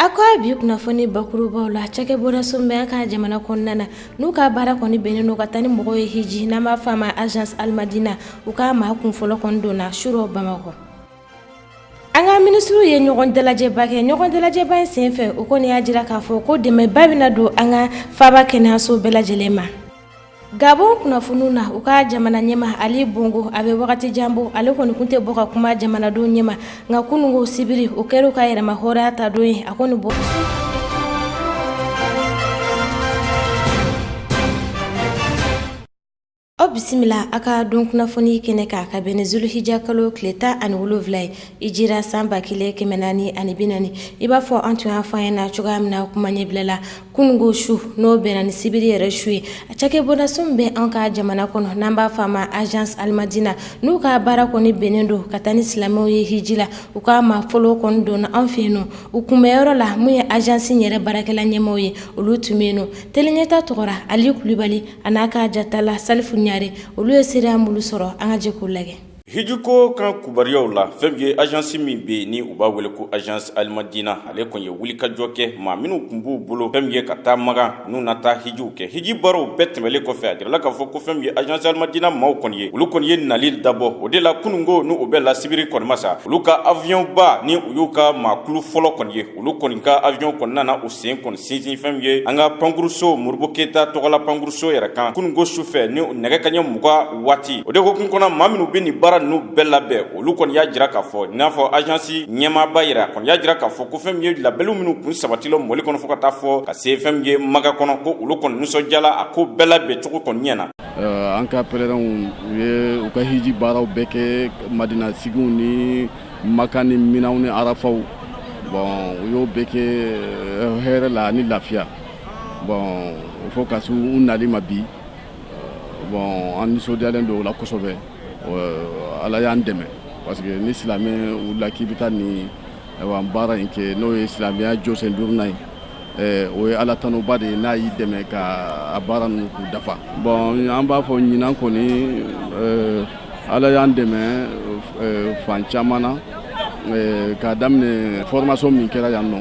a ko a bi kunnafoni bakurubaw la cakɛbonda so min bɛ an ka jamana kɔnɔna na n'u ka baara kɔni bɛnnen don ka taa ni mɔgɔw ye hiji n'an b'a fɔ a ma agence alimadina u ka maa kunfɔlɔ kɔni donna surɔ bamakɔ an ka minisiriw ye ɲɔgɔn dalajɛba kɛ ɲɔgɔn dalajɛba in senfɛ o kɔni y'a jira k'a fɔ ko dɛmɛba bɛna don an ka faaba kɛnɛyaso bɛɛ lajɛlen ma Gabon kunnafoniw na u ka jamana ɲɛmaa ali bongo a bɛ wagati jan bɔ ale kɔni tun tɛ bɔ ka kuma jamanadenw ɲɛma nka kununko sibiri o kɛra u ka yɛrɛmahɔrɔnya ta don ye a kɔni bɔ aw bisimila a ka don kunnafoni kɛnɛ kan ka bɛn ni zulhija kalo tile tan ani wolowula ye hijira san ba kelen kɛmɛ naani ani bi naani i b'a fɔ an tun y'a fɔ aw ɲɛ na cogoya min na kuma ɲɛbila la kunungo su n'o bɛnna ni sibiri yɛrɛ su ye a cakɛbonda so min bɛ an ka jamana kɔnɔ n'an b'a fɔ a ma agence alimadina n'u ka baara kɔni bɛnnen don ka taa ni silamɛw ye hiji la u ka maa fɔlɔ kɔni donna an fɛ yen nɔ u kunbɛnyɔrɔ la min ye agence yɛrɛ baarakɛla ɲɛmaaw ye olu tun bɛ yen nɔ tele ɲɛta tɔgɔla ali kulibali a n'a ka jatala salifu ɲare olu ye seereya minnu sɔrɔ an ka jɛ k'o lajɛ Hijiko kan kibaruyaw la fɛn min ye agence min bɛ yen ni u b'a wele ko agence alimadina ale kɔni ye wulikajɔ kɛ maa minnu tun b'u bolo fɛn min ye ka taa makan n'u na taa hijiw kɛ hiji baaraw bɛɛ tɛmɛnen kɔfɛ a jirala k'a fɔ ko fɛn min ye agence alimadina maaw kɔni ye olu kɔni ye nali dabɔ o de la kununko n'o bɛnna sibiri kɔni ma sa olu ka avion ba ni u y'u ka maakulu fɔlɔ kɔni ye olu kɔni ka avion kɔni nana u sen kɔni sinsin fɛn min ye an ka pankuruso modibo keyita tɔgɔla pankuruso yɛrɛ kan kununko su fɛ ni nɛgɛ kaɲɛ muga waati o de hukumu kɔnɔ maa minnu bɛ nin baara ninnu bɛɛ labɛn olu kɔni y'a jira k'a fɔ i n'a fɔ ajansi ɲɛmaaba yɛrɛ kɔni y'a jira k'a fɔ ko fɛn min ye labɛnw minnu kun sabatila mali kɔnɔ fo ka taa fo ka se fɛn min ye makan kɔnɔ ko olu kɔni nisɔndiyala a ko bɛɛ labɛn cogo kɔni ɲɛna an ka pɛlɛrɛnw u ye u ka hiji baaraw bɛɛ kɛ madina sigiw ni Makan ni minaw ni arafaw bon u y'o bɛɛ kɛ eh, hɛrɛ la ni lafiya bon fo ka se u nali ma bi eh, bon an nisɔndiyalen don o la kosɛbɛ eh, ala y'an dɛmɛ parce que ni silamɛ wulila k'i bɛ taa nin baara in kɛ n'o ye silamɛya jɔsen duurunan ye o ye ala tanuba de ye n'a y'i dɛmɛ ka baara ninnu k'u dafa bon an b'a fɔ ɲinan kɔni ala y'an dɛmɛ fan caman na k'a daminɛ formation min kɛra yan nɔ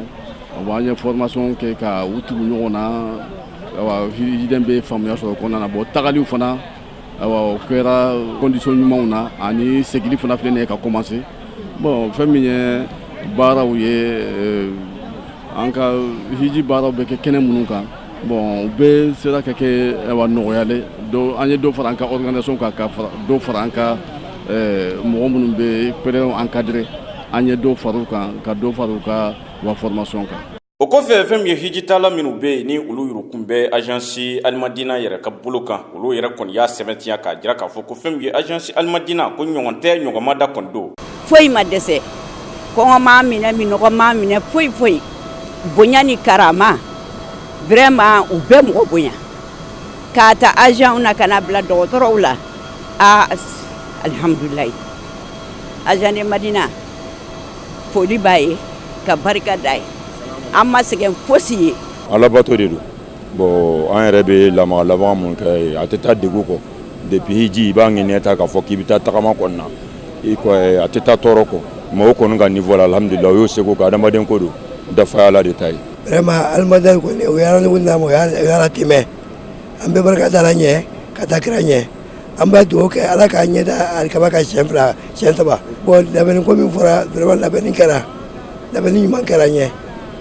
bon an ye formation kɛ ka u tugu ɲɔgɔn na hijiden bɛ faamuya sɔrɔ o kɔnɔna na bon tagali fana o kɛra condition ɲumanw na ani segili fana filɛ nin ye ka commencer bon fɛn min ye baaraw ye eh, an ka hiji baaraw bɛ kɛ kɛnɛ minnu kan bon u bɛɛ sera ka kɛ nɔgɔya la an ye dɔ fara an ka organisation kan ka dɔ fara an ka eh, mɔgɔ minnu bɛ pèlerins encadrer an ye dɔ fara u kan ka dɔ fara u ka wa formation kan o kɔfɛ fɛn min ye hijitala minnu bɛ yen ni olu yurukun bɛ agence alimadina yɛrɛ ka bolo kan olu yɛrɛ kɔni y'a sɛbɛntiya k'a jira k'a fɔ ko fɛn min ye agence alimadina ko ɲɔgɔn tɛ ɲɔgɔn ma da kɔni don foyi ma dɛsɛ kɔngɔ m'a minɛ minnɔgɔ m'a minɛ foyi foyi bonya ni karama vraiment u bɛɛ mɔgɔ bonya k'a ta agentw na ka na bila dɔgɔtɔrɔw la a alihamdulayi agence madina foli b'a ye ka barika d'a ye an ma sɛgɛn fosi ye ala bato de don bon an yɛrɛ bɛ lamaga lamaga min kɛ a tɛ taa degun kɔ depuis hiji i b'a ŋɛniya ta k'a fɔ k'i bɛ taa tagama kɔni na i ko a tɛ taa tɔɔrɔ kɔ mɔgɔw kɔni ka niveau la alhamdulillah u y'u seko kɛ adamaden ko don dafa y'ala de ta ye vraiment alimadina kɔni o y'a lanɔgɔya an ma o y'a latɛmɛ an bɛ barika da ala ɲɛ ka taa kira ɲɛ an b'a dugawu kɛ ala k'an ɲɛ da alikaba kan siyɛn fila siyɛn saba bon labɛnni ko min fɔra vraiment labɛnni kɛra labɛnni ɲuman kɛra an ɲɛ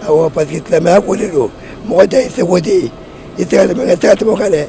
awɔ parce que silamɛya ko de don mɔgɔ dan ye i seko de ye i tɛ se ka tɛmɛ o kan dɛ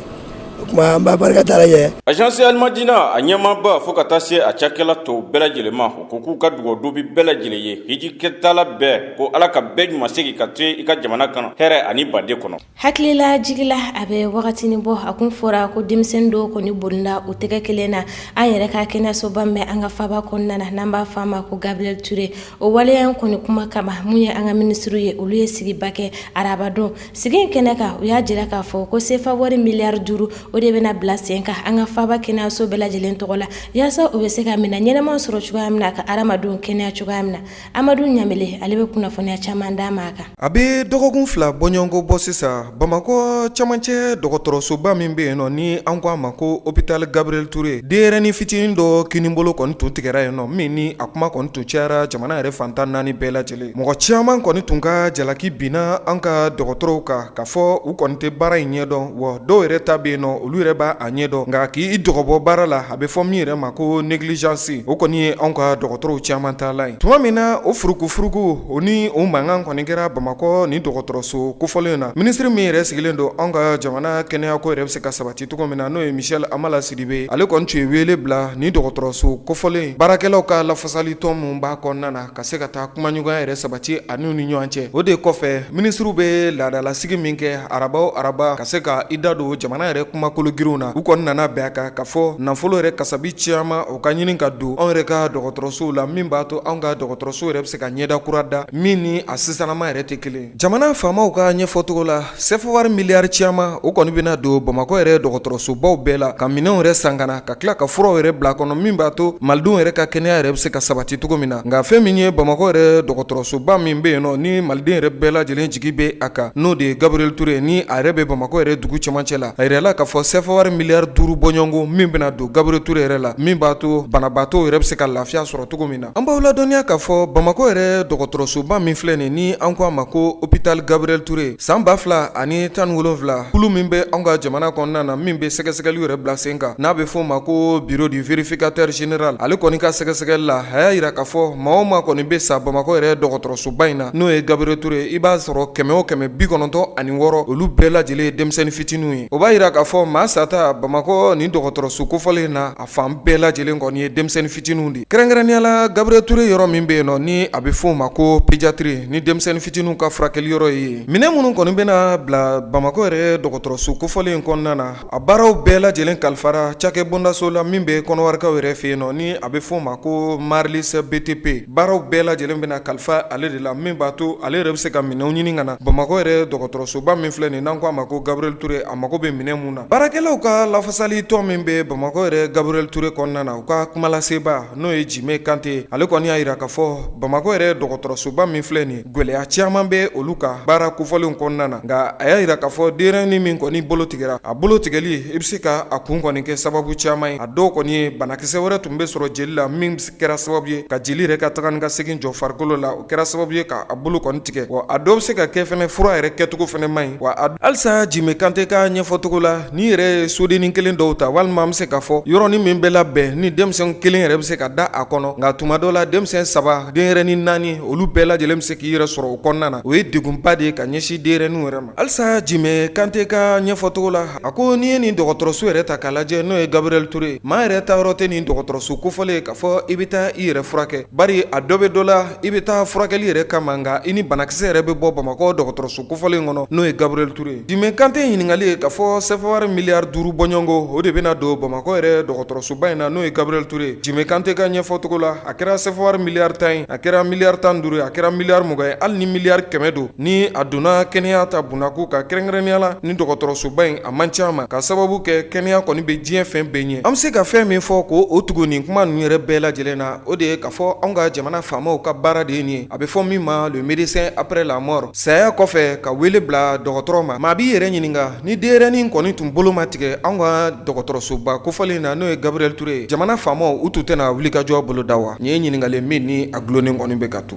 o tuma an b'a barika da ala ɲɛ agence alimadina a ɲɛmaaba fo ka taa se a cakɛla tɔw bɛɛ lajɛlen ma u ko k'u ka dugawudon b'u bɛɛ lajɛlen ye hiji kɛtala bɛɛ ko ala ka bɛɛ ɲuman segin ka to i ka jamana kan hɛrɛ ani baden kɔnɔ Hakilila jigila a bɛ wagatinin bɔ a kun fɔra ko denmisɛn dɔ kɔni bɔnɛna a tɛgɛ kelen na an yɛrɛ ka kɛnɛyasoba min an ka faaba kɔnɔna na n'an b'a fɔ a ma ko gabriel touré o waleya in kɔni kuma kama maa minnu ye an ka minisiriw ye olu ye sigiba kɛ arabadon sigi in kɛnɛ kan u y'a jira k'a fɔ ko sefa wari miliyari duuru o de bɛna bila sen kan an ka faaba kɛnɛyaso bɛɛ lajɛlen tɔgɔ la walasa u bɛ se ka minɛn ɲɛnamaw sɔrɔ cogoya min na ka hadamadenw kɛnɛya cogoya min na amadu ɲamele ale bɛ kunnafoniya caman d'an m'a kan a bɛ dɔgɔkun fila bɔɲɔgɔnko bɔ sisan bamakɔ camancɛ dɔgɔtɔrɔsoba min bɛ yen nɔ ni an ko a ma ko hôpital gabriel touré denyɛrɛnin fitinin dɔ kininbolo kɔni tun tigɛra yen nɔ min ni a kuma kɔni tun cayara jamana yɛrɛ fan tan naani bɛɛ lajɛlen mɔgɔ caman kɔni tun ka jalaki binna an ka dɔgɔtɔrɔw kan k'a fɔ u kɔni tɛ baara in ɲɛdɔn wa dɔw yɛrɛ ta bɛ yen nɔ olu yɛrɛ b'a ɲɛdɔn nka k'i dɔgɔbɔ baara la a bɛ fɔ min yɛrɛ ma ko negilijansi o kɔni ye anw ka dɔgɔtɔrɔw caman ta la ye tuma min na o furukufuruku o ni o mankan kɔni kɛra bamakɔ ni dɔgɔtɔrɔso kofɔlen in na minisiri min yɛrɛ sigilen don anw ka jamana kɛnɛyako yɛrɛ bɛ se ka sabati cogo min na n'o ye michel hamala sidibé ale kɔni tun ye wele bila ni dɔgɔtɔrɔso kofɔlen baarakɛlaw ka lafasali tɔn minnu b'a kɔnɔna na ka se ka taa kumaɲɔgɔnya yɛrɛ sabati anw ni ɲɔgɔn cɛ o de kɔfɛ minisiriw bɛ laadalasigi min kɛ araba o araba ka se ka i da don jamana yɛrɛ kumakolo girinw na u kɔni nana bɛn a kan k'a fɔ nafolo yɛrɛ kasabi caman o ka ɲini ka don anw yɛrɛ ka dɔgɔtɔrɔsow la min b'a to anw ka dɔgɔtɔrɔso yɛrɛ bɛ se ka ɲɛda kura da min ni a sisannama yɛrɛ tɛ kelen Jamana faamaw ka ɲɛfɔcogo la sɛfa wari miliyari caman o kɔni bɛna don bamakɔ yɛrɛ dɔgɔtɔrɔsobaw bɛɛ la ka minɛnw yɛrɛ san ka na ka tila ka furaw yɛrɛ bila kɔnɔ min b'a to malidenw yɛrɛ ka kɛnɛya yɛrɛ bɛ se ka sabati cogo min na nka fɛn min ye bamakɔ yɛrɛ dɔgɔtɔrɔsoba min bɛ yen nɔ ni maliden yɛrɛ bɛɛ lajɛlen jigi bɛ a kan n'o de ye Gabriel Toure ye ni a yɛrɛ bɛ bamakɔ yɛrɛ dugu camancɛ la a jirala k'a fɔ sɛfa wari miliyari duuru bɔɲɔgɔnko min bɛna don Gabriel Toure yɛrɛ la min b'a to banabaatɔw yɛrɛ bɛ se ka lafiya sɔrɔ cogo min na an b'aw ladɔnniya k'a fɔ bamakɔ yɛrɛ dɔgɔtɔrɔsoba min filɛ nin ni an ko a ma ko hôpital Gabriel Toure san 2017 kulu min bɛ anw ka jamana kɔnɔna na min bɛ sɛgɛsɛgɛli yɛrɛ bila sen kan n'a bɛ fɔ o ma ko bureau du vérificateur général ale kɔni ka sɛgɛsɛgɛli la a y'a jira k'a fɔ maa o maa kɔni bɛ sa bamakɔ yɛrɛ dɔgɔtɔrɔsoba in na n'o ye Gabriel Toure i b'a sɔrɔ kɛmɛ o kɛmɛ bi kɔnɔntɔn ani wɔɔrɔ olu bɛɛ lajɛlen ye denmisɛnnin fitininw ye o b'a jira k'a fɔ maa sata bamakɔ nin dɔgɔtɔrɔso kofɔlen in na fan bɛɛ lajɛlen kɔni ye denmisɛnnin fitininw de ye kɛrɛnkɛrɛnnenya la Gabriel Toure yɔrɔ min bɛ yen nɔ ni a bɛ f'o ma ko pédiatrie ni denmisɛnnin fitininw ka furakɛli yɔrɔ ye yen, minɛn minnu kɔni bɛna bila Bamakɔ yɛrɛ dɔgɔtɔrɔso kofɔlen in kɔnɔna na, a baaraw bɛɛ lajɛlen kalifara cakɛ bondaso la min bɛ Kɔnɔwarikaw yɛrɛ fɛ yen nɔ ni a bɛ f'o ma ko Marylis BTP, baaraw bɛɛ lajɛlen bɛna kalifa ale de la min b'a to ale yɛrɛ bɛ se ka minɛnw ɲini ka na Bamakɔ yɛrɛ dɔgɔtɔrɔsoba min filɛ nin ye n'an k'a ma ko Gabriel Toure a mago bɛ minɛn minnu na. baarakɛlaw ka lafasali tɔn min bɛ bamakɔ yɛrɛ Gabriel Toure kɔnɔna na u ka kumalasebaa n'o ye jime kante ale kɔni y'a jira k'a fɔ bamakɔ yɛrɛ dɔgɔtɔrɔsoba min filɛ nin gɛlɛya caman bɛ olu ka baara kofɔlenw kɔnɔna na nka a y'a jira k'a fɔ denyɛrɛnin min kɔni bolo tigɛra a bolo tigɛli i bɛ se ka a kun kɔni kɛ sababu caman ye a dɔw kɔni ye banakisɛ wɛrɛ tun bɛ sɔrɔ jeli la min kɛra sababu ye ka jeli yɛrɛ ka taga ni ka segin jɔ farikolo la o kɛra sababu ye k'a bolo kɔni tigɛ wa a dɔw bɛ se ka kɛ fɛnɛ fura yɛrɛ kɛcogo fɛnɛ man ɲi wa halisa jime kante ka ɲɛfɔcogo la n'i yɛrɛ ye sodennin kelen dɔw ta walima an bɛ se k'a fɔ yɔrɔnin min bɛ labɛn ni denmisɛn kelen yɛrɛ bɛ se ka da a kɔnɔ nka tuma dɔ la denmisɛn saba denyɛrɛnin naani olu bɛɛ lajɛlen bɛ se k'i yɛrɛ sɔrɔ o kɔnɔna na o ye degunba de ye ka ɲɛsin denyɛrɛninw yɛrɛ ma halisa jime kante ka ɲɛfɔcogo la a ko n'i ye nin dɔgɔtɔrɔso yɛrɛ ta k'a lajɛ n'o ye Gabriel Toure ye maa yɛrɛ taayɔrɔ tɛ nin dɔgɔtɔrɔso kofɔlen k'a fɔ i bɛ taa i yɛrɛ furakɛ bari a dɔ bɛ dɔ la i bɛ taa furakɛli yɛrɛ kama nka i ni banakisɛ yɛrɛ bɛ bɔ bamakɔ dɔgɔtɔrɔso kofɔlen in kɔnɔ n'o ye Gabriel Toure ye jime kante ɲininkali ye k'a fɔ sɛfa wari miliyari duuru bɔɲɔgɔnko o de bɛna don bamakɔ yɛrɛ dɔgɔtɔrɔsoba in na n'o ye Gabriel Toure ye jime kante ka ɲɛfɔcogo la a kɛra sɛfa wari miliyari tan ye a kɛra miliyari tan duuru ye a kɛra miliyari mugan ye hali ni miliyari kɛmɛ don Ni a donna kɛnɛya ta bondako kan kɛrɛnkɛrɛnnenya la ni dɔgɔtɔrɔsoba in a man ca ma k'a sababu kɛ kɛnɛya kɔni bɛ diɲɛ fɛn bɛɛ ɲɛ an bɛ se ka fɛn min fɔ ko o tugu nin kuma ninnu yɛrɛ bɛɛ lajɛlen na o de ye k'a fɔ anw ka jamana faamaw ka baara de ye nin ye a bɛ fɔ min ma le médecin après la mort saya kɔfɛ ka wele bila dɔgɔtɔrɔ ma maa b'i yɛrɛ ɲininka ni denyɛrɛnin kɔni tun bolo ma tigɛ anw ka dɔgɔtɔrɔsoba kofɔlen na n'o ye gabriel touré ye jamana faamaw u tun tɛna wulikajɔ boloda wa nin ye ɲininkali min ni a dulonnen kɔni bɛ ka to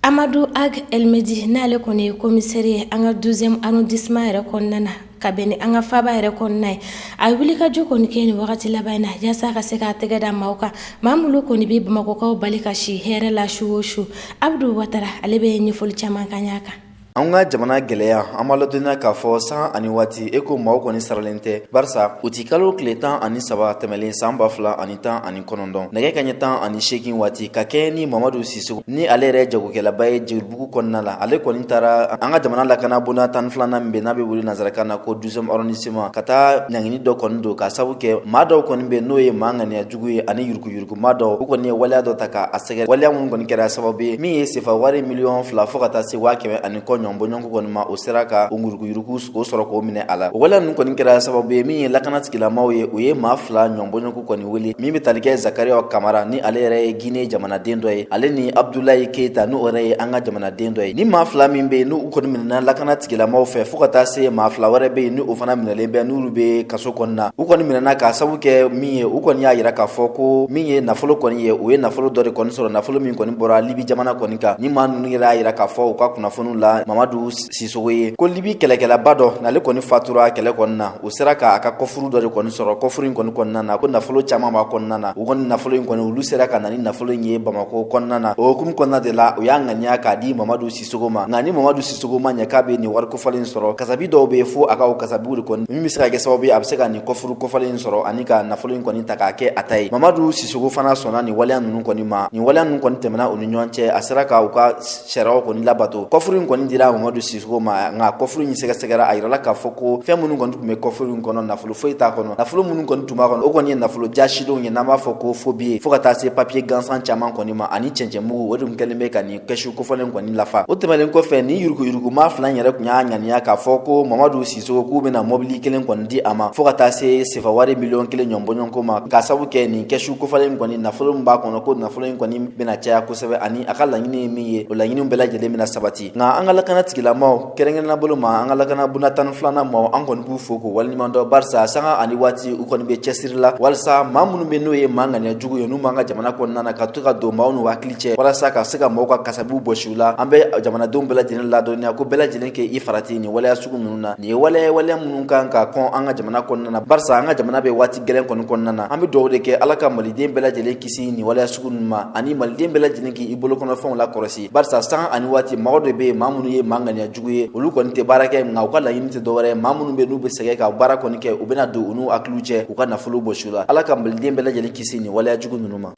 amadu ag elmedi n'ale kɔni ye komisɛri ye an ka douzième arrondissement yɛrɛ kɔnɔna na ka bɛn ni an ka faba yɛrɛ kɔnɔna ye a ye wulikajɔ kɔni kɛ nin wagati laban in na yaasa ka se k'a tɛgɛ da maaw kan maa minnu kɔni bɛ bamakɔkaw bali ka si hɛrɛ la su o su abudu watara ale bɛ ɲɛfɔli caman kɛ a kan An ka jamana gɛlɛya an ma ladɔnniya k'a fɔ san ani waati eko maaw kɔni saralen tɛ barisa utikalo tile tan ani saba tɛmɛlen san ba fila ani tan ani kɔnɔntɔn nɛgɛ kanɲɛ tan ani seegin waati ka kɛɲɛ ni mamadu sisogo ni ale yɛrɛ jagokɛlaba ye jelibugu kɔnɔna la ale kɔni taara an ka jamana lakana bonda tan ni filanan min bɛ n'a bɛ wele nansarakan na ko douzième arrondissement ka taa ɲangini dɔ kɔni don k'a sababu kɛ maa dɔw kɔni bɛ n'o ye maa ŋaniya jugu ye ani yuruguyurugumaa dɔw u kɔni ye waleya dɔ ta k'a sɛgɛrɛ waleya minnu kɔni kɛra sababu ye min ye sefa wari miliyɔn fila fɔɔ ka taa se waa kɛmɛ ani kɔ ɲɔgɔn bɔɲɔgɔnko kɔni ma o sera ka o yuruguyurugu k'o sɔrɔ k'o minɛ a la o waleya ninnu kɔni kɛra sababu ye min ye lakana tigilamaw ye u ye maa fila ɲɔgɔn bɔɲɔgɔnko kɔni wele min bɛ tali kɛ zakariya kamara ni ale yɛrɛ ye gine jamanaden dɔ ye ale ni abudulayi keyita n'o yɛrɛ ye an ka jamanaden dɔ ye ni maa fila min bɛ yen n'u kɔni minɛna lakana tigilamaw fɛ fɔɔ ka taa se maa fila wɛrɛ bɛ yen ni o fana minɛlen bɛ n'olu bɛ kaso kɔnɔna u kɔni minɛna k'a sababu kɛ min ye u kɔni y'a yira k'a fɔ ko min ye nafolo kɔni ye u ye nafolo dɔ de kɔni sɔrɔ nafolo min kɔni bɔra libi jamana kɔni kan ni maa ninnu yɛrɛ y'a yira k'a fɔ u ka kunnafoniw la mamadu sisogo ye ko libi kɛlɛkɛlaba dɔ n'ale kɔni fatura kɛlɛ kɔni na u sera k'a ka kɔfuru dɔ de kɔni sɔrɔ kɔfuru in kɔni kɔnɔna na ko nafolo caman b'a kɔnɔna na u kɔni nafolo in kɔni olu sera ka na ni nafolo in ye bamako kɔnɔna na o hukumu kɔnɔna de la u y'a ŋaniya k'a di mamadu sisogo ma nka ni mamadu sisogo ma ɲɛ k'a bɛ nin wari kofɔlen sɔrɔ kasabi dɔw bɛ fo a ka o kasabiw de kɔni min bɛ se ka kɛ sababu ye a bɛ se ka nin kɔfuru kofɔlen sɔrɔ ani ka nafolo in kɔni ta k'a kɛ a ta ye mamadu sisogo fana sɔnna nin waleya ninnu kɔni ma nin waleya ninnu kɔni tɛmɛna u ni ɲɔgɔn cɛ a sera ka u ka sariyaw kɔni labato kɔfuru in kɔni dira mamadu sisogo ma nka kɔfuru in sɛgɛsɛgɛra a yirala k'a fɔ ko fɛn minnu kɔni tun bɛ kɔfuru in kɔnɔ nafolo foyi t'a kɔnɔ nafolo minnu kɔni tun b'a kɔnɔ o kɔni ye nafolo jaasilenw ye n'an b'a fɔ ko faux billets fo ka taa se papiye gansan caman kɔni ma ani cɛncɛnmugu o de tun kɛlen bɛ ka nin kɛsu kofɔlen kɔni lafa o tɛmɛnen kɔfɛ ni yuruguyurugumaa fila in yɛrɛ tun y'a ŋaniya k'a fɔ ko mamadu sisogo k'u bɛna mɔbili kelen kɔni di a ma fɔɔ ka taa se sefawari miliyɔn kelen ɲɔnbɔɲɔnko ma k'a sabu kɛ nin kɛsu kofɔlen kɔni nafolo min b'a kɔnɔ ko nafolo in kɔni bɛna caya kosɛbɛ ani a ka laɲini ye min ye o laɲiniw bɛɛ lajɛlen bɛna sabati nka an ka lakana tigilamaw Kɛrɛnkɛrɛnnenya bolo ma an ka lakana bunda tan ni filanan maaw an kɔni b'u fo k'u waleɲumandɔn barisa sanga ani waati u kɔni bɛ cɛsiri la walasa maa minnu bɛ n'o ye maa ŋaniya jugu ye n'u b'an ka jamana kɔnɔna na ka to ka don maaw n'u hakili cɛ walasa ka se ka mɔgɔw ka kasabiw bɔsi u la an bɛ jamanadenw bɛɛ lajɛlen ladɔnniya ko bɛɛ lajɛlen k'i farati nin waleya sugu ninnu na nin ye waleya waleya minnu kan ka kɔn an ka jamana kɔnɔna na barisa an ka jamana bɛ waati gɛlɛn kɔni kɔnɔna na an bɛ dugawu de kɛ ala ka maliden bɛɛ lajɛlen kisi nin waleya sugu ninnu ma ani maliden bɛɛ lajɛlen k' i bolokɔnɔfɛnw lakɔlɔsi barisa sanga ani waati mɔgɔ dɔ bɛ yen maa minnu ye maa ŋaniya jugu ye olu kɔni tɛ baara kɛ nka u ka laɲini tɛ dɔwɛrɛ ye maa minnu bɛ n'u bɛ sɛgɛn ka baara kɔni kɛ u bɛna don u n'u hakiliw cɛ u ka nafolo bɔsi u la ala ka maliden bɛɛ lajɛlen kisi nin waleya jugu ninnu ma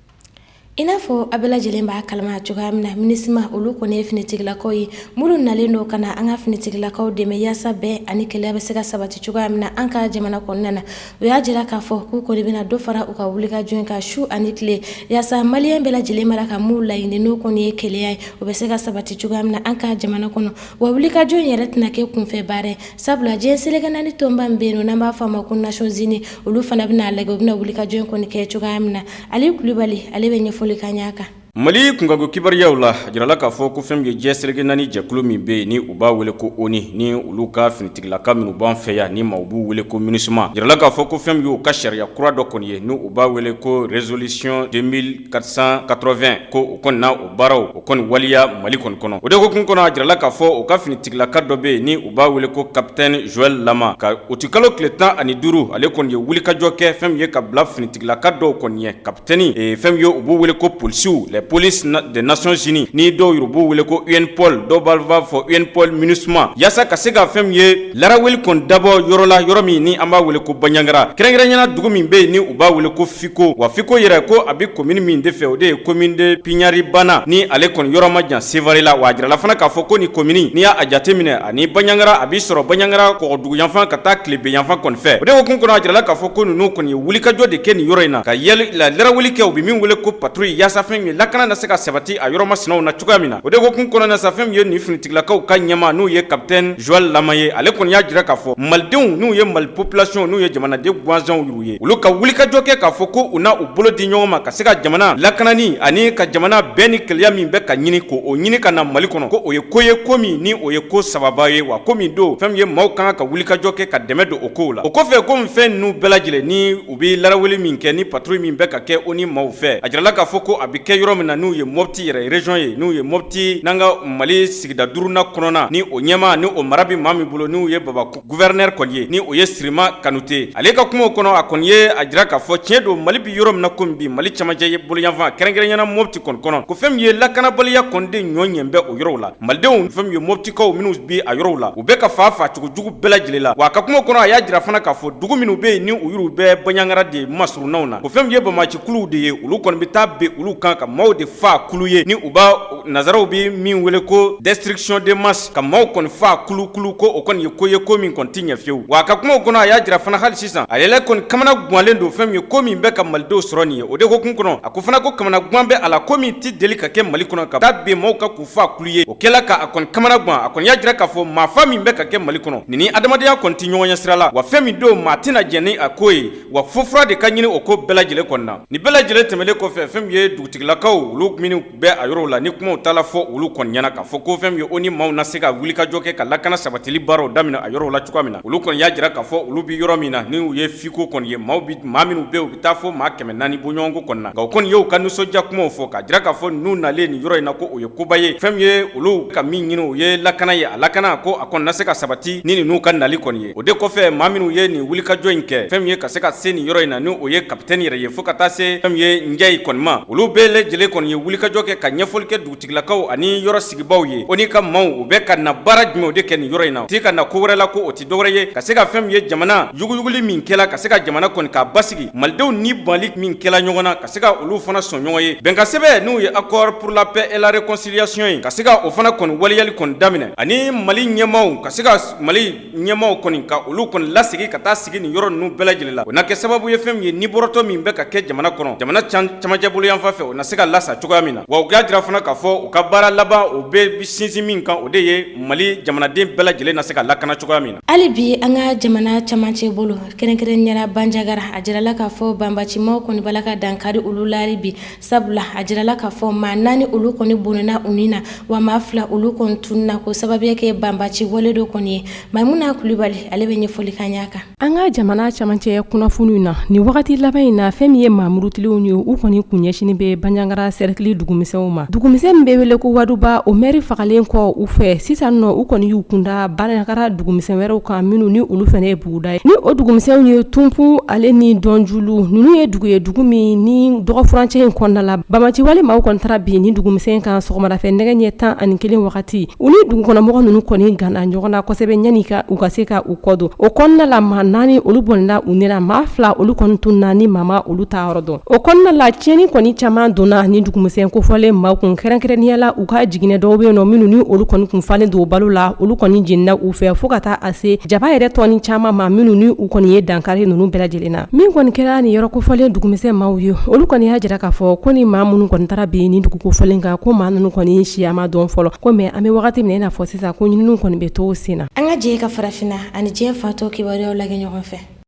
i n'a fɔ a bɛɛ lajɛlen b'a kalama cogoya min na Minusma olu kɔni ye finitigilakaw ye minnu nalen don ka na an ka finitigilakaw dɛmɛ yaasa bɛn ani kelenya bɛ se ka sabati cogoya min na an ka jamana kɔnɔna na o y'a jira k'a fɔ k'u kɔni bɛna dɔ fara u ka wulikajɔ in kan su ani tile yaasa maliyɛn bɛɛ lajɛlen b'a la ka min laɲini n'o kɔni ye kelenya ye o bɛ se ka sabati cogoya min na an ka jamana kɔnɔ wa wulikajɔ in yɛrɛ tɛna kɛ kunfɛ baara ye sabula diɲɛ seleke naani tɔnba min bɛ yen nɔ n'an b'a fɔ a ma ko nations unies olu fana bɛna a lajɛ u bɛna wulikajɔ in kɔni kɛ cogoya min na ali kulibali ale bɛ ɲɛfɔli k'an y'a kan Mali kunkanko kibaruyaw la a jirala k'a fɔ ko fɛn min ye diɲɛ seleke naani jɛkulu min bɛ yen ni u b'a wele ko ONU ni olu ka finitigilaka minnu b'an fɛ yan ni maaw b'u wele ko Minusma a jirala k'a fɔ ko fɛn min ye u ka sariya kura dɔ kɔni ye ni u b'a wele ko résolution 2480 ko o kɔni na o baaraw o kɔni waleya Mali kɔni kɔnɔ o de hukumu kɔnɔ a jirala k'a fɔ u ka finitigilaka dɔ bɛ yen ni u b'a wele ko capitaine Joel Lama ka utikalo tile tan ani duuru ale kɔni ye wulikajɔ kɛ fɛn min ye ka bila finitigilaka dɔw kɔni ɲɛ Tɛni ee fɛn min ye u b'u wele ko policiers, les polices des nations unies ni dɔw yɛrɛ b'u wele ko UNPOL dɔw b'a fɔ UNPOL Minusma yaasa ka se ka fɛn min ye laraweli kɔni dabɔ yɔrɔ la, yɔrɔ min ni an b'a wele ko Bandiagara kɛrɛnkɛrɛnnenya la dugu min bɛ yen ni u b'a wele ko Fiko wa Fiko yɛrɛ ko a bɛ commune min de fɛ o de ye commune de Piɲari bana ni ale kɔni yɔrɔ ma jan Sevare la wa a jirala fana k'a fɔ ko nin commune n'i y'a jateminɛ ani banyangara a bɛ sɔrɔ banyangara kɔgɔduguyanfan ka taa tilebinyanfan kɔni fɛ o de hukumu kɔnɔ a jirala k'a fɔ ko ninnu kɔni ye wulikajɔ de kɛ nin yɔrɔ in na ka yɛli la laraweli kɛ u bɛ min wele ko patrouille yaasa fɛn min ye lakana na se ka sabati a yɔrɔ masinaw na cogoya min na o de hukumu kɔnɔ na sa fɛn min ye nin finitigilakaw ka ɲɛmaa n'o ye capitaine Joel Lama ye ale kɔni y'a jira k'a fɔ malidenw n'u ye mali population n'u ye jamanaden gansanw u ye olu ka wulikajɔ kɛ k'a fɔ ko u na u bolo di ɲɔgɔn ma ka se ka jamana lakanani ani ka jamana bɛn ni kelenya min bɛ ka ɲini ko o ɲini ka na mali kɔnɔ ko o ye ko ye ko min ni o ye ko sababa ye wa ko min don fɛn min ye maaw ka kan ka wulikajɔ kɛ ka dɛmɛ don o kow la o kɔfɛ ko fɛn ninnu bɛɛ lajɛlen ni u bɛ laraweli min kɛ ni patrouille min bɛ ka kɛ ONU maaw fɛ a jirala k'a fɔ ko a bɛ kɛ yɔrɔ min na n'u ye Mopti yɛrɛ région ye n'u ye Mopti n'an ka mali sigida duurunan kɔnɔna ni o ɲɛmaa ni o mara bɛ maa min bolo n'o ye baba Gouverneur kɔni ye ni o ye sirima kanute ale ka kumaw kɔnɔ a kɔni ye a jira k'a fɔ tiɲɛ don mali bɛ yɔrɔ min na komi bi mali camancɛ ye bolo yanfan kɛrɛnkɛrɛnɲɛna mopti kɔni kɔnɔ ko fɛn min ye lakanabaliya kɔni de ɲɔ ɲɛ bɛ o yɔrɔw la malidenw fɛn min ye moptikaw minnu bi a yɔrɔw la u bɛ ka faa faacogo jugu bɛɛ lajɛlen la wa a ka kumaw kɔnɔ a y'a jira fana k'a fɔ dugu minnu bɛ yen ni u yɔrɔ bɛ banjagara de masurunnaw na ko fɛn min ye banbacikuluw de ye olu kɔni bɛ taa bin olu kan ka maaw de faa kulu ye ni u b' Nasaraw bɛ min wele ko destruction de masse ka maaw kɔni faa kulukulu ko o kɔni ye ko ye ko min kɔni tɛ ɲɛ fewu, wa a ka kumaw kɔnɔ a y'a jira fana hali sisan ale la kɔni kamana guwanlen don fɛn min ye ko min bɛ ka malidenw sɔrɔ nin ye, o de hukumu kɔnɔ a ko fana ko kamana guwan bɛ a la ko min tɛ deli ka kɛ Mali kɔnɔ ka taa ben maaw kan k'u faa kulu ye, o kɛla k'a kɔni kamana guwan, a kɔni y'a jira k'a fɔ maa faa min bɛ ka kɛ Mali kɔnɔ nin ni adamadenya kɔni tɛ ɲɔgɔn ɲɛ sira la, wa fɛn min don maa tɛna jɛn ni a ko ye, wa fo fura de ka ɲini o ko bɛɛ lajɛlen kɔni na, nin bɛɛ lajɛlen tɛmɛnen kɔfɛ fɛn min ye dugutigilakaw olu minnu bɛ a yɔrɔw la ni kumaw taala fɔ olu kɔni ɲɛna k'a fɔ ko fɛn min ye o ni maaw na se ka wuli ka jɔ kɛ ka lakana sabatili baaraw daminɛ a yɔrɔw la cogoya min na olu kɔni y'a jira k'a fɔ olu bɛ yɔrɔ min na ni o ye fiko kɔni ye maaw maa minnu bɛ u bɛ taa fɔ maa kɛmɛ naani bɔɲɔgɔnko kɔni na nka o kɔni y'u ka nisɔndiya kumaw fɔ k'a jira k'a fɔ ninnu nali nin yɔrɔ in na ko o ye koba ye fɛn min ye olu ka min ɲini o ye lakana ye a lakana ko a kɔni na se ka sabati ni ninnu ka nali kɔni ye o de kɔfɛ maa minnu ye nin wulikajɔ in kɛ fɛn min ye ka se ka se nin yɔrɔ in na ni o ye kapitɛni yɛrɛ ye fɔɔ ka taa se fɛn min ye njayi kɔni ma olu bɛɛ lajɛlen kɔni ye wulikajɔ kɛ ka ɲɛfɔli kɛ dugutigilakaw ani yɔrɔ sigibaaw ye o ni ka maaw u bɛ ka na baara jumɛnw de kɛ nin yɔrɔ in na ti ka na ko wɛrɛ la ko o tɛ dɔwɛrɛ ye ka se ka fɛn min ye jamana yuguyuguli min kɛla ka se ka jamana kɔni k'a basigi malidenw ni banli min kɛla ɲɔgɔn na ka se ka olu fana sɔn ɲɔgɔn ye bɛnkansɛbɛn n'o ye accord pour la paix et la réconciliation ye ka se ka o fana kɔni waleyali kɔni daminɛ ani mali ɲɛmaaw ka se ka Mali ɲɛmaaw kɔni ka olu kɔni lasigi ka taa sigi nin yɔrɔ ninnu bɛɛ lajɛlen la o na kɛ sababu ye fɛn min ye nin bɔrɔtɔ min bɛ ka kɛ jamana kɔnɔ jamana camancɛ bolo yanfan fɛ o na se ka lasa cogoya min na wa u k'a jira fana k'a fɔ u ka baara laban o bɛ sinsin min kan o de ye mali jamanaden bɛɛ lajɛlen na se ka lakana cogoya min na hali bi an ka jamana camancɛ bolo kɛrɛnkɛrɛnɲɛna banjagara a jirala k'a fɔ banbacimaaw kɔni bala ka dankari olu la hali bi sabula a jirala k'a fɔ maa naani olu kɔni bɔnɛna u ni na wa maa fila olu kɔni tununa k'o sababuya kɛ banbaci wale dɔ kɔni ye maimuna kulibali ale bɛ ɲɛfɔli k'an y'a kan an ka jamana camancɛ kunnafoniw na nin wagati laban in na fɛn min ye maamurutilenw ye u kɔni kun ɲɛsinnen bɛ banjagara sɛrɛkili dugumisɛnw ma dugumisɛn min bɛ wele ko waduba o mɛri fagalen kɔ u fɛ sisan nɔ u kɔni y'u kunda banjagara dugumisɛn wɛrɛw kan minnu ni olu fana buguda ye ni o dugumisɛnw ye tumpu ale ni dɔnjulu ninnu ye dugu ye dugu min nin dɔgɔfurancɛ in kɔnɔna la banbaci wale maaw kɔni taara bin nin dugumisɛn kan sɔgɔmada fɛ nɛgɛ ɲɛ tan ani kelen wagati u ni dugukɔnɔmɔgɔ ninnu kɔni gana ɲɔgɔn na kosɛbɛ ɲani ka u ka se ka u kɔdon o kɔnɔna la maa naani olu bɔnɛna u ni na maa fila olu kɔni tununna ni maa ma olu taa yɔrɔ dɔn o kɔnɔna la tiɲɛni kɔni caman donna nin dugumisɛn kofɔlen maaw kun kɛrɛnkɛrɛnnenyala u ka jiginɛ dɔw bɛ yen nɔ minnu ni olu kɔni kun falen don balo la olu kɔni jenina u fɛ fo ka taa se jaba yɛrɛ tɔni caman ma minnu ni u kɔni ye dankari ninnu bɛɛ lajɛlen na min kɔni kɛra ni yɔrɔ kofɔlen dugumisɛn maaw ye olu kɔni y'a jira k'a fɔ ko ni maa minnu kɔni taara bin ni dugu kofɔlen kan ko maa ninnu kɔni siya ma dɔn fɔlɔ ko mɛ an bɛ wagati min i n'a fɔ sisan ko ɲininiw kɔni bɛ to sen na an ka jɛ ka farafinna ani diɲɛ fan tɔ kibaruyaw lajɛ ɲɔgɔn fɛ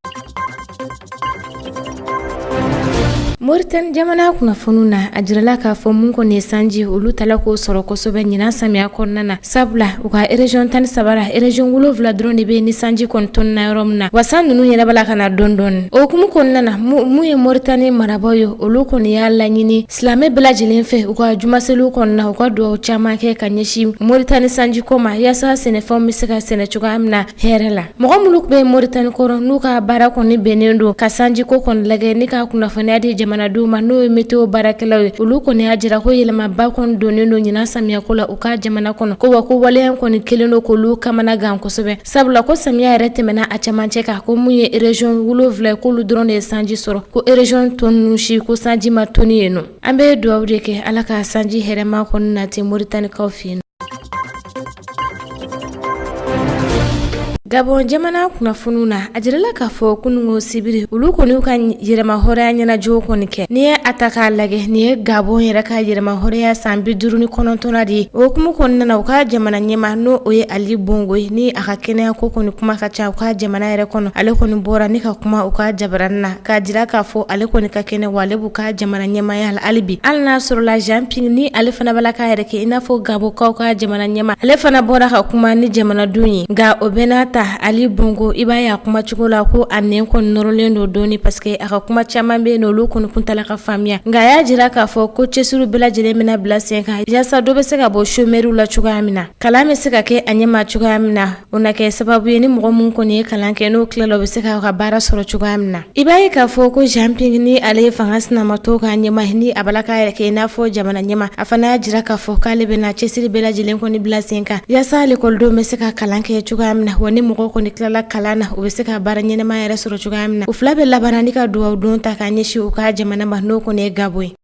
moritani jamana kunnafoniw na a jirala k'a fɔ mun kɔni ye sanji olu t'a la k'o sɔrɔ kosɛbɛ ɲinan samiya kɔnɔna na sabula u ka erezɔn tan ni saba la erezɔn wolonfila dɔrɔn de bɛ yen ni sanji kɔni tɔnina yɔrɔ min na wa san ninnu yɛrɛ b'a la ka na dɔɔni dɔɔni o hukumu kɔnɔna na mun ye moritani marabaaw ye olu kɔni y'a laɲini silamɛ bɛɛ lajɛlen fɛ u ka jumaseliw kɔnɔna u ka dugawu caman kɛ ka ɲɛsin moritani sanji ko ma yaasa sɛnɛfɛnw bɛ se ka sɛnɛ cogoya min na hɛrɛ la mɔgɔ minnu bɛ moritani kɔrɔ n'u ka baara kɔni bɛnnen don ka sanjiko kɔni lajɛ ni ka kunnafoniya di jamanadenw ma n'o ye meteo baarakɛlaw ye olu kɔni y'a jira ko yɛlɛmaba kɔni donnen don ɲinan samiyako la u ka jamana kɔnɔ ko wa ko waleya kɔni kelen don k'olu kamana gan kosɛbɛ sabula ko samiya yɛrɛ tɛmɛna a cɛmancɛ kan ko mun ye erezɔn wolonwula ye k'olu dɔrɔn de ye sanji sɔrɔ ko erezɔn tɔ ninnu si ko sanji ma tɔni yen nɔ An bɛ dugawu de kɛ ala ka sanji hɛrɛma kɔni nati moritanikaw fɛ yen gabɔn jamana kunnafoniw na a jirala k'a fɔ kunungo sibiri olu kɔni y'u ka yɛrɛmahɔrɔnya ɲɛnajɛw kɔni kɛ n'i ye a ta k'a lajɛ nin ye gabɔn yɛrɛ ka yɛrɛmahɔrɔnya san bi duuru ni kɔnɔntɔnnan de ye o hukumu kɔnɔna na u ka jamana ɲɛma n'o ye ali bongo ye ni a ka kɛnɛya ko kɔni kuma ka ca u ka jamana yɛrɛ kɔnɔ ale kɔni bɔra ni ka kuma u ka jabaranin na k'a jira k'a fɔ ale kɔni ka kɛnɛ wa ale b'u ka jamana ɲɛmaya la hali bi hali n'a sɔrɔla Jean Ping ni ale fana b'a la k'a yɛrɛ kɛ i n'a fɔ Gabonkaw ka jamana ɲɛma ale fana bɔra ka kuma ni jamanadenw ye nka o bɛɛ n'a ta Ali Bongo i b'a ye a kuma cogo la ko a nɛn kɔni nɔrɔlen don dɔɔni parce que a ka kuma caman bɛ yen nɔ olu kɔni tun t'a la ka faamuya nka a y'a jira k'a fɔ ko cɛsiriw bɛɛ lajɛlen bɛna bila sen kan yaasa dɔ bɛ se ka bɔ chômeurs la cogoya min na kalan bɛ se ka kɛ a ɲɛma cogoya min na O na kɛ sababu ye ni mɔgɔ min kɔni ye kalan kɛ n'o tilala o bɛ se k'a ka baara sɔrɔ cogoya min na i b'a ye k'a fɔ ko Jean Ping ni ale ye fanga sinamatɔn ka ɲɛma ye ni a b'a la k'a yɛrɛ kɛ i n'a fɔ jamana ɲɛma a fana y'a jira k'a fɔ k'ale bɛna cɛsiri bɛɛ lajɛlen kɔni bila sen kan yaasa lekɔlidenw bɛ se ka kalan kɛ cogoya min na wa ni mɔgɔ kɔni tilala kalan na u bɛ se ka baara ɲɛnama yɛrɛ sɔrɔ cogoya min na u fila bɛɛ labanna ni ka dugawu don ta ka ɲɛsin u ka jamana ma n'o kɔni ye gabɔn ye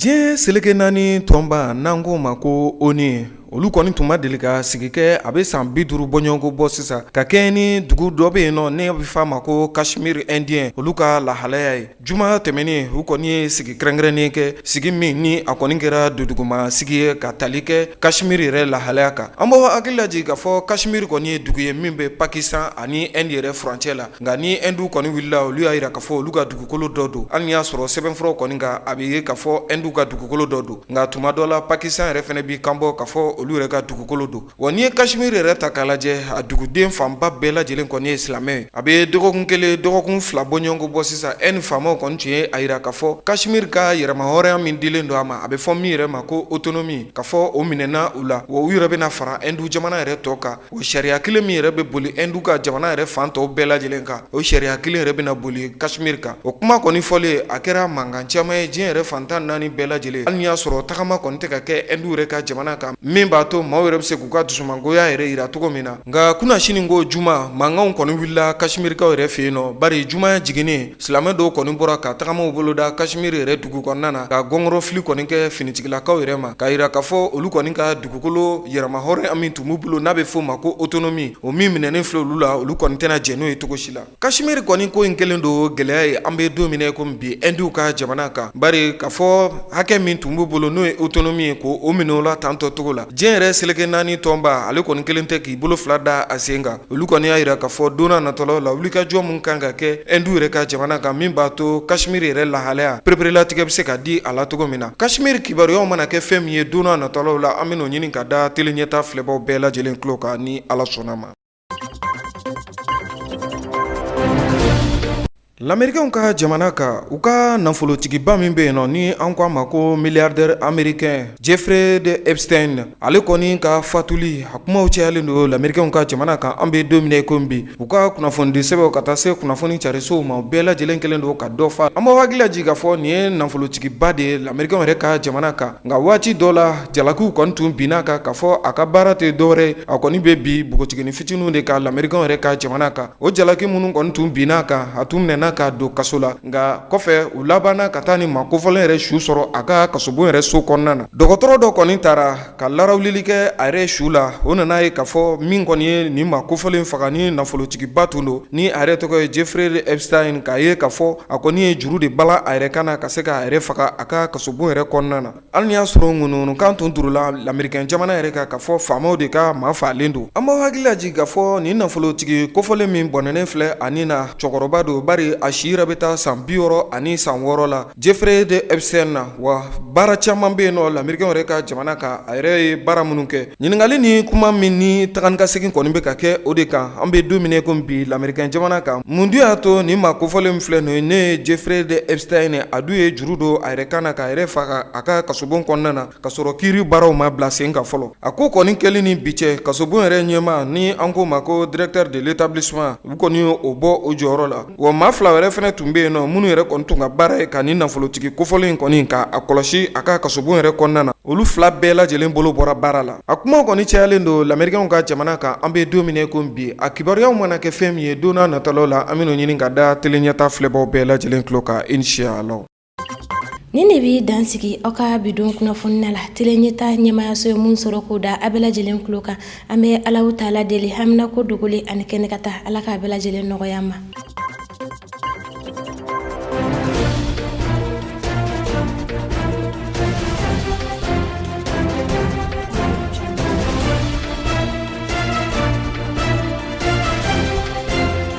diɲɛ seleke naani tɔnba n'an k'o ma ko ONU olu kɔni tun ma deli ka sigi kɛ a bɛ san bi duuru bɔɲɔgɔnko bɔ sisan ka kɛɲɛ ni dugu dɔ bɛ yen nɔ n'a bɛ f'a ma ko kashmir indien olu ka lahalaya ye juma tɛmɛnen u kɔni ye sigi kɛrɛnkɛrɛnnen kɛ sigi min ni a kɔni kɛra dunduguma sigi ye ka tali kɛ kashmir yɛrɛ lahalaya kan an b'aw hakili lajigin k'a fɔ kashmir kɔni ye dugu ye min bɛ pakistan ani inde yɛrɛ furancɛ la Nka ni Hindu kɔni wulila olu y'a jira k'a fɔ olu ka dugukolo dɔ don, hali n'i y'a sɔrɔ sɛbɛnfuraw kɔni kan a bɛ ye k'a fɔ Hindu ka dugukolo dɔ don, nka tuma dɔ la Pakistan yɛrɛ fana b'i kanbɔ k'a fɔ olu yɛrɛ ka dugukolo don. Wa n'i ye Kashmir yɛrɛ ta k'a lajɛ, a duguden fanba bɛɛ lajɛlen kɔni ye silamɛ ye. A bɛ dɔgɔkun kelen, dɔgɔkun fila bɔɲɔgɔnko bɔ sisan, Inde faamaw kɔni tun ye a jira k'a fɔ Kashmir ka yɛrɛmahɔrɔnya min dilen don a ma, a bɛ fɔ min yɛrɛ ma ko autonomie, k'a fɔ o minɛna u la, wa u yɛrɛ bɛna fara Hindu jamana yɛrɛ tɔ kan. O sariya kelen min yɛrɛ bɛ boli Hindu ka jamana yɛrɛ fan tɔw bɛɛ lajɛlen kan, o sariya kelen yɛrɛ bɛna boli Kashmir kan. O kuma kɔni fɔlen, a kɛra mankan caman ye diɲɛ yɛrɛ fan tan ni naani bɛɛ lajɛlen. Hali n'i y'a sɔrɔ tagama kɔni tɛ ka kɛ Hindu yɛrɛ ka jamana kan, min b'a to maaw yɛrɛ bɛ se k'u ka dusumangoya yɛrɛ jira cogo min na. Nka kunasini ko juma, mankanw kɔni wulila Kashmirkaw yɛrɛ fɛ yen nɔ. Bari juma jiginnen, silamɛ dɔw kɔni bɔra ka tagamaw boloda Kashmir yɛrɛ dugu kɔnɔna na, ka gɔngɔrɔfili kɔni kɛ finitigilakaw yɛrɛ ma, k'a jira k'a fɔ olu kɔni ka dugukolo yɛrɛmahɔrɔnya min tun b'u bolo n'a bɛ f'o ma ko autonomie o min minɛnen filɛ olu la olu kɔni tɛna jɛn n'o ye cogo si la Kashmir kɔni ko in kɛlen don gɛlɛya ye an bɛ don min na i komi bi Hinduw ka jamana kan bari k'a fɔ hakɛ min tun b'u bolo n'o ye autonomie ye ko o minɛna u la tantɔcogo la diɲɛ yɛrɛ seleke naani tɔnba ale kɔni kɛlen tɛ k'i bolo fila da a sen kan olu kɔni y'a jira k'a fɔ donna natɔlaw la wulikajɔ min kan ka kɛ Hindu yɛrɛ ka jamana kan min b'a to Kashmir yɛrɛ lahalaya pereperelatigɛ bɛ se ka di a la cogo min na Kashmir kibaruyaw mana kɛ fɛn min ye donna natɔlaw la an bɛn'o ɲini k'a da tele ɲɛta filɛbaw bɛɛ lajɛlen tulo kan ni Ala sɔnn'a ma Lamerikɛnw ka jamana kan u ka nafolotigiba min bɛ yen nɔ ni an ko a ma ko milliardaire américain Jeffrey de Epstein ale kɔni ka fatuli a kumaw cayalen don lamerikɛnw ka jamana kan an bɛ don min na i ko bi u ka kunnafonidi sɛbɛnw ka taa se kunnafoni carisow ma bɛɛ lajɛlen kɛlen don ka dɔ fɔ an b'aw hakili lajigin k'a fɔ nin ye nafolotigiba de ye lamerikɛn yɛrɛ ka jamana kan nka waati dɔ la jalakiw kɔni tun binn'a kan k'a fɔ a ka baara tɛ dɔwɛrɛ a kɔni bɛ bin npogotiginin fitininw de kan lamerikɛnw yɛrɛ ka jamana kan O jalaki minnu kɔni tun binn'a kan a tun minɛna ka don kaso la nka kɔfɛ u labanna ka taa nin maa kofɔlen yɛrɛ su sɔrɔ a ka kasobon yɛrɛ so kɔnɔna na dɔgɔtɔrɔ dɔ kɔni taara ka larawulili kɛ a yɛrɛ su la o nan'a ye k'a fɔ min kɔni ye nin maa kofɔlen faga ni nafolotigiba tun don ni a yɛrɛ tɔgɔ ye Jeffrey Epstein k'a ye k'a fɔ a kɔni ye juru de bala a yɛrɛ kan na ka se k'a yɛrɛ faga a ka kasobon yɛrɛ kɔnɔna na Hali n'i y'a sɔrɔ ŋunuŋunukan tun turula lamerikɛn jamana yɛrɛ kan k'a fɔ faamaw de ka maa faalen don an b'aw hakili lajigin k'a fɔ nin nafolotigi kofɔlen min bɔnɛnen filɛ a ni na cɛkɔrɔba don bari a si yɛrɛ bɛ taa san bi wɔɔrɔ ani san wɔɔrɔ la Jeffrey de Epstein na wa baara caman bɛ yen nɔ lamerikɛn yɛrɛ ka jamana kan a yɛrɛ ye baara minnu kɛ Ɲininkali ni kuma min ni taganikasegin kɔni bɛ ka kɛ o de kan an bɛ don min ko bi lamerikɛn jamana kan mun dun y'a to nin maa kofɔlen min filɛ nin ye n'o ye Jeffrey Epstein a dun ye juru don a yɛrɛ kan na k'a yɛrɛ faga a ka kasobon kɔnɔna na ka sɔrɔ kiiri baaraw ma bila sen kan fɔlɔ a ko kɔni kɛlen ni bi cɛ kasobon yɛrɛ ɲɛmaa ni an k'o ma ko directeur de l'établissement u kɔni ye o bɔ o jɔyɔrɔ la Wa maa fila wɛrɛ fana tun bɛ yen nɔ minnu yɛrɛ kɔni tun ka baara ye ka nin nafolotigi kofɔlen in kɔni ka a kɔlɔsi a ka kasobon yɛrɛ kɔnɔna na olu fila bɛɛ lajɛlen bolo bɔra baara la a kumaw kɔni cayalen don lamerikɛnw ka jamana kan an bɛ don min ko bi a kibaruyaw mana kɛ fɛn min ye don nataw la an bɛn'o ɲini ka da tele ɲɛtaa filɛbaw bɛɛ lajɛlen tulo kan inshallah nin de bɛ dan sigi aw ka bi don kunnafoni na la tele ɲɛtaa ɲɛmayaso ye min sɔrɔ k'o da a bɛɛ lajɛlen tulo kan an bɛ Alahu taala deli haminako dogolen ani kɛnɛ kan ta ala k'a bɛɛ lajɛlen nɔgɔya an ma